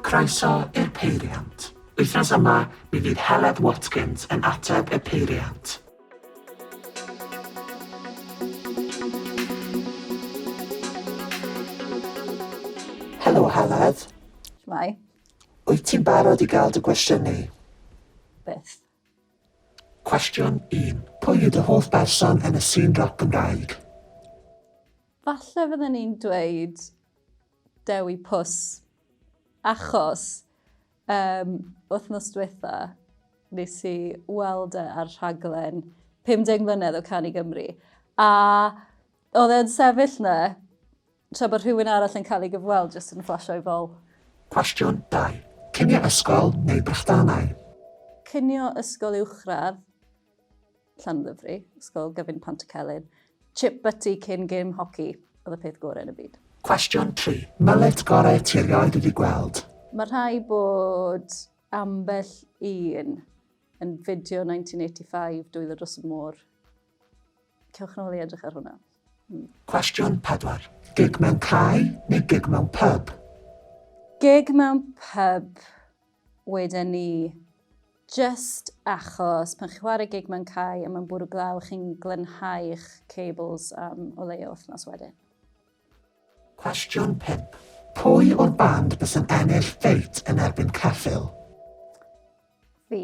Croeso i'r peiriant. Wythnos yma, mi fydd Heledd Watkins yn ateb y peiriant. Helo Heledd. Shwmae. Wyt ti'n barod i gael dy gwestiynu? Byth. Cwestiwn un, Pwy yw dy hoff berson yn y sîn roc Gymraeg? Falle fydden i'n dweud Dewi Pws, achos um, wythnos diwetha nes i weld e ar rhaglen 50 mlynedd o Canu Gymru. A oedd e'n sefyll na Tra bod rhywun arall yn cael ei gyfweld jyst yn fflasio ei fol. Cwestiwn 2. Cinio ysgol neu brechdanau? Cinio ysgol uwchradd, Llanddifri, ysgol gyfun Pantycelyn. Chip butty cyn gêm hoci oedd y peth gorau yn y byd. Cwestiwn 3. Mullet gorau ti erioed wedi gweld? Mae rhai bod ambell un yn fideo 1985 dwylo dros y môr Cewch nôl i edrych ar hwnna. Mm. Cwestiwn 4. Gig mewn cae neu gig mewn pub? Gig mewn pub, wedyn ni, just achos pan chi'n chwarae gig mewn cae a mae'n bwrw glaw, chi'n glenhau'ch cables am o leia wythnos wedyn. Cwestiwn 5. Pwy o'r band bys yn ennill ffeit yn erbyn ceffil? Fi.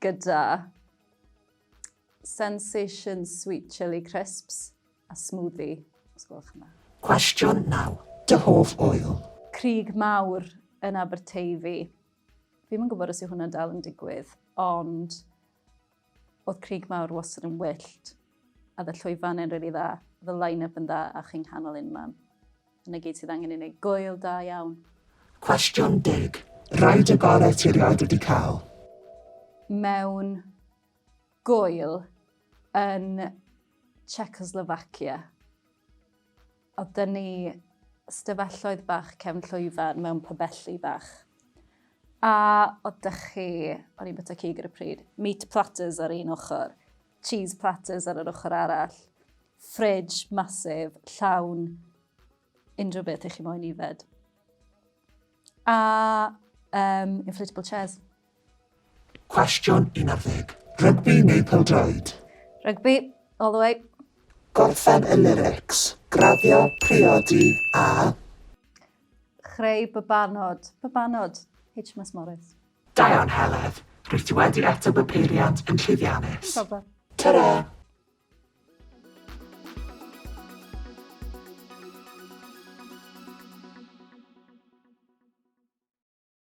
gyda Sensation Sweet Chili Crisps a smoothie, os gwelwch yma. Cwestiwn 9. Dy hoff ŵyl? Crug Mawr yn Aberteifi. Fi'n yn gwybod os yw hwnna dal yn digwydd, ond Oedd Craig Mawr wastad yn wyllt. A oedd y llwyfannau'n rili dda. Oedd y line-up yn dda a chi'n nghanol unman. Dyna gyd sydd angen i wneud gŵyl da iawn. Cwestiwn deg. Rhaid y gorau ti erioed wedi cael. Mewn gŵyl yn Czechoslovakia. Oedd dyn ni stafelloedd bach cefn llwyfan mewn pybelli bach. A oedd dych chi, o'n i'n byta cig ar y pryd, meat platters ar un ochr, cheese platters ar yr ochr arall, fridge masif, llawn unrhyw beth i chi moyn ifed. A um, inflatable chairs. Cwestiwn 11. Rygbi neu pêl-droed? Rygbi, all the way. Gorffen y lyrics. Graddio, priodi, a. Chreu babanod. Babanod. HMS Morris. Da iawn, Heledd. Rwyt ti wedi ateb y peiriant yn llwyddiannus. Problem. Ta-ra!